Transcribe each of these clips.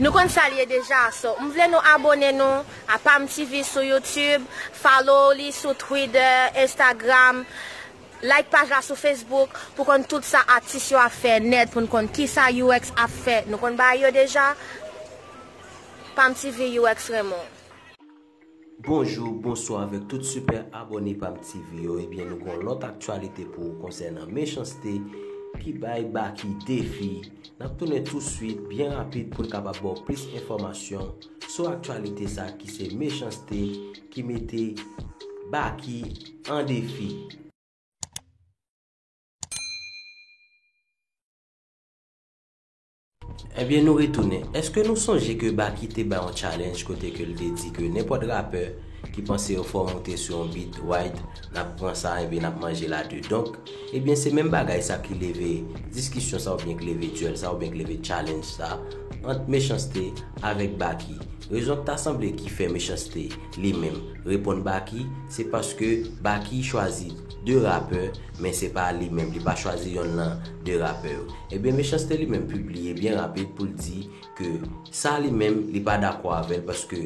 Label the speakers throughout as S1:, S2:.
S1: Nou konn sal ye deja so m vle nou abone nou a pam TV sou youtube follow li sou twitter instagram like paj la sou facebook pou konn tout sa atis yo ap fè nèt poun konn kisa UX ap fè nou konn bagay yo deja pam TV UX renmen w.
S2: Bonjou, bonswa avèk tout super abòne pam TV yo ebyen nou gon lòt aktyalite pou ou konsènan mechanste ki bay Baky defi nap tounen tou swit byen rapid poun kapab baw plis enfòmasyon sou aktyalite sa ki se mechanste ki mete Baky an defi. Ebyen nou retounen, eske nou sonje ke Baky te bay yon challenge kote ke l te di ke nenpòt rapè ki panse yo fò moute sou yon beat Wide nap pran sa ebyen nap manje l a 2 donk ebyen se menm bagay sa ki leve diskisyon sa oubyen k leve duel sa oubyen k leve challenge sa ant Mechans-T avèk Baky rezon k ta sanble ki fè Mechans-T li menm reponn Baky se paske Baky chwazi 2 rapè Men se pa li menm, li pa chwazi yonn lan 2 rapè yo. Ebyen Mechanste li menm pibliye byen rapid pou l di ke sa li menm li pa dakò avè l paske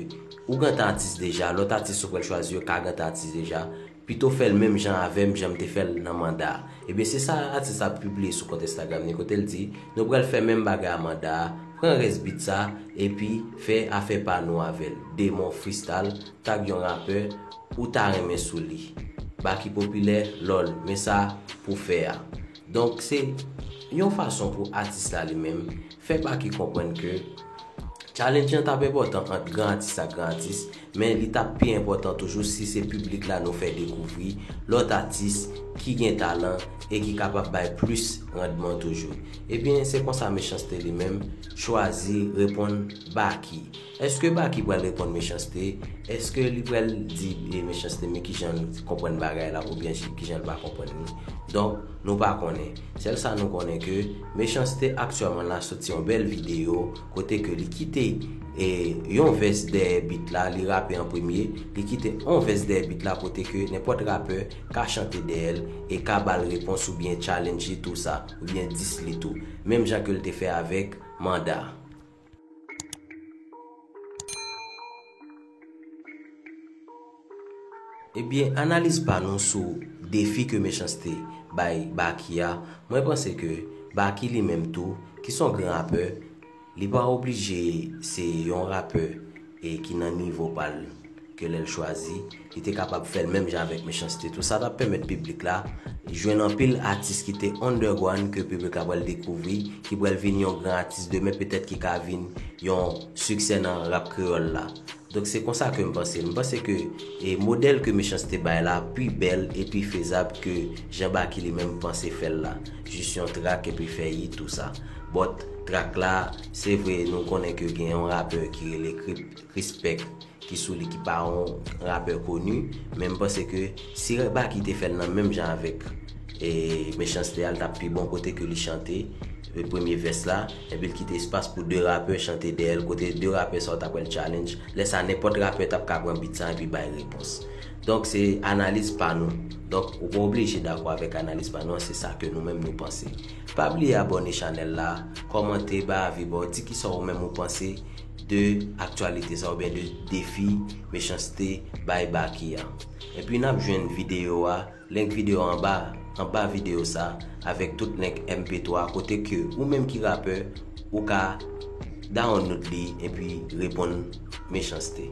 S2: ou gentan atis deja, lòt atis ou pral chwazi yo ka gentan atis deja, pito fè l menm jan avè m jan m te fè l nan Manda. Ebyen se sa atis la pibliye sou kont Instagram li kote l di, nou pral fè menm bagay a Manda a, pran rès beat sa epi fè afè pa nou avè l. Demon Freestyle tag yon rapè. ou ta renmen sou li. Baky popilè loll men sa pou fè a. Donk se Yon fason pou atis la li menm fè Baky konprann ke challenge lan tap enpòtan ant gran atis ak gran atis men li tap pi enpòtan toujou si se piblik la nou fè dekouvri lòt atis ki gen talan e ki kapab bay plis randman toujou. Ebyen se konsa Mechanste li menm chwazi reponn Baky. Eske Baky pral reponn Mechanste? Eske li pral di Mechanste men kijan l konprann bagay la oubyen kijan l pa konprann li? Donk, nou pa konnen. Sèl sa nou konnen ke Mechanste aktyèlman la soti yon bèl videyo kote ke li kite yon vès dèyè beat la, li rape an premye, li kite yon vès dèyè beat la kote ke nenpòt rapè ka chante dèyè l e ka ba l repons oubyen challenge li tou sa, oubyen diss li tou. Menm jan ke l te fè avèk Manda. Ebyen analiz pa nou sou defi ke mechanste bay Baky a, mwen panse ke Baky li menm tou ki son gran rapè, li pa oblije se yon rapè e ki nan nivo pa l ke lè l chwazi li te kapab fè l menm jan avèk Mechans-T tou sa t ap pèmèt piblik la jwenn anpil atis ki te underground ke piblik la pral dekouvri ki pral vin yon gran atis demen petèt ki ka vin yon siksè nan rap kreyòl la donk se konsa ke m panse l m panse ke modèl ke Mechans-T bay la pi bèl e pi fezab ke jan Baky li menm panse fè l la jis yon track epi fè yit ou sa bòt track la. Se vre nou konnen ke gen yon rapè ki rele Krispek ki sou li ki pa yon rapè koni, men m panse ke si Baky te fè l nan menm jan avèk Mechanste a l t ap pi bon kote ke li chante premye vès la epi l kite espas pou 2 rapè chante dèyè l kote 2 rapè sa ou ta kwè l challenge lè sa nenpòt rapè t ap ka pran beat sa epi bay repons. Donk se analiz pa nou. Donk ou pa oblije dakò avèk analiz pa nou an se sa ke nou menm nou panse. Pa bliye abòne chanèl la, kòmante, bay avi ba w, di kisa ou menm ou panse de aktyalite sa oubyen de defi mechanste bay Baky a. Epi nap jwenn videyo a, link videyo a anba anba videyo sa avèk tout link MP3 kote ke ou menm ki rapè ou ka dawonloud li epi reponn mechanste.